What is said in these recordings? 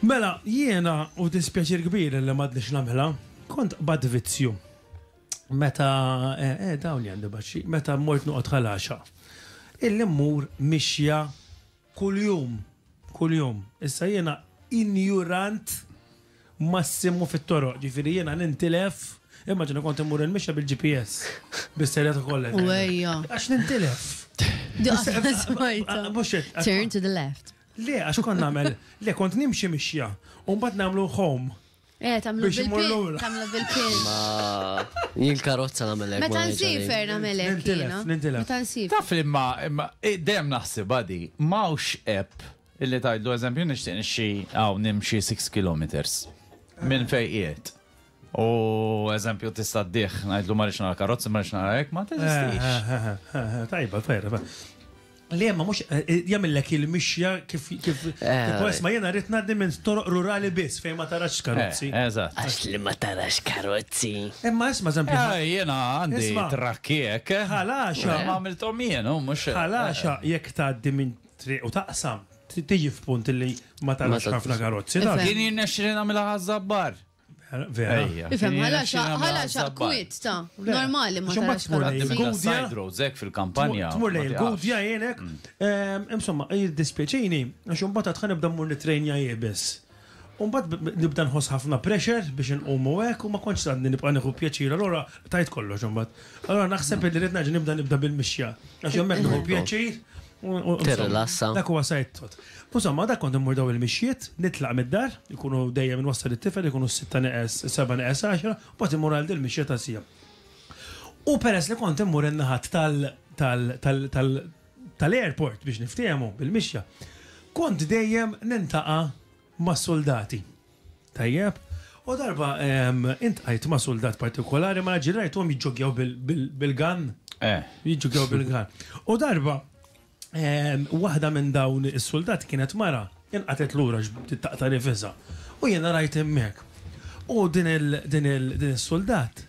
Mela, jiena u dispjaċir kbir li m'għadniex nagħmilha, kont qbadt vizzju. Meta, eh, eh dawn li għandi baxxi, meta mort noqgħod ħalaxa. Illi mmur mixja kuljum, kuljum. Issa jiena injurant massimu fit-toroq, ġifieri jiena nintilef, immaġina kont immur il-mixja bil-GPS, bis-serjetà kollha. Għax nintilef. Turn to the left. Le, għax kont nagħmel, le kont nimxi mixja, u mbagħad nagħmlu home. Eh, tamlu Biex imur bil-pin. lura. Tamlu bil-pin. Ma jien karozza nagħmel hekk. Meta ma ngħidx għalik. nsifer nagħmel hekk. Nintilef, jiena. nintilef. Meta nsifer. Taf li ma, ma eh, dejjem naħsibha di, m'hawnx app illi tgħidlu eżempju nixtieq nixxi hawn nimxi 6 kilometers minn fejn qiegħed. U eżempju tista' ddih, ngħidlu ma rridx nara karozzi, ma rridx nara hekk, ma teżistix. Tajba, tajba. Li jemma mux eh, eh, jamillek il-mixja kif kif eh. ma jena rrit naddi minn toroq rurali biss fejn ma tarax karozzi. Eżatt. Għax li ma tarax karozzi. Imma isma zampi. Jena għandi trakkiek. Ħalaxa. Ma għamiltom jien, oh, mux. Ħalaxa jek taddi minn triq u taqsam. Tiġi f'punt li ma tarax ħafna karozzi. Din jirnexxi li namilha ħazzabbar. Vera. Ifem, ħala xaq, ħala xaq kwit ta' normali ma tarax side roads ek fil-kampanja. Tmur lej il-gudja jenek. Mm. Ehm, insomma, jiddispieċini, għax imbagħad tħan nibda mmur nitrejnja jibes. Umbat nibda nħoss ħafna pressure biex nqumu hekk u ma kontx għadni nibqa' nieħu pjaċir, allura tajt kollox imbagħad. Allura naħseb li rid naġi nibda nibda bil-mixja. Għax hemmhekk nieħu pjaċir tirrilassa. Dak huwa side thought. U insomma, dak kont immur dawn il-mixjiet, nitlaq mid-dar, ikunu dejjem inwassal it-tifel, ikunu s-sitta neqes, is-sebgħa neqes għaxra, u mbagħad immur għal dil-mixja ta' siegħa. U peress li kont immur in-naħat tal, tal, tal, tal, tal-airport biex niftiehmu bil-mixja, kont dejjem nintaqa' ma' suldati. Tajjeb? U darba intqajt ma' suldat partikolari, ma nafx rajthom jiġġogjaw bil-gun. Eh. Jiġġogjaw bil-gun. U darba waħda minn dawn is-suldati kienet mara, inqatgħet lura bdiet taqta' nifisha. U jiena rajt hemmhekk. U din is-suldat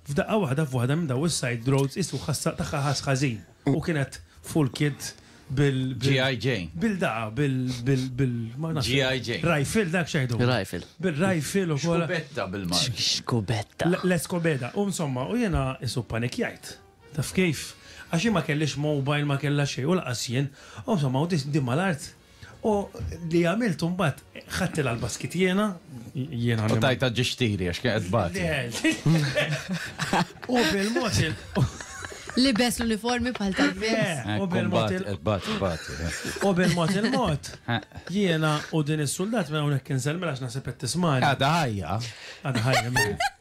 f'daqqa waħda f'waħda minn dawn is-side roads qisu tagħha ħass ħażin. U kienet full kit bil. GI Jane. Bil da, bil. bil. ma nafx. GI Jane. Rifle dak xejdu. Rifle. Bil rifle u kol. Xkubetta bil mar. Xkubetta. L-eskobeda. U insomma, u jena isu panikjajt. Taf kif? Għaxi ma kellix mobile, ma kella xej, u laqas jien. U insomma, u di mal-art. U li għamilt mbagħad ħadt il-għalba skitjena, jiena. U tajta ġixtiri għax kienet bati. U bil-mod Libes l-uniformi bħal tal-fis. U bil-mod U bil-mod il-mod. Jiena u din is-suldat minn hawnhekk inselmel għax naħseb qed tismani. Għadha ħajja. Għadha ħajja.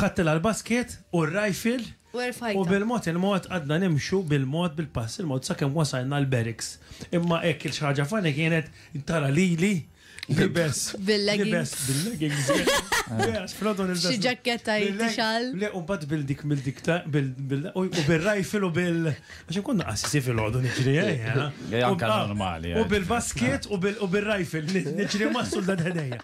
Ħadd il-basket u r-rifle u erfajtha. U bil-mod il-mod qgħadna nimxu bil-mod bil-pass il-mod sakemm wasalna l-barracks. Imma hekk xi ħaġa funny kienet tara lili libes bil-leggings bil-leggings yes fl-għodwa nilbes xi ġakketta jitixal. Le u mbagħad bil-dik bil-dik ta' bil u bir-rajfil u bil għax inkun naqassi fil-għodu niġri Anka normali. U bil-basket u bir-rajfil niġri massul dan ħdejja.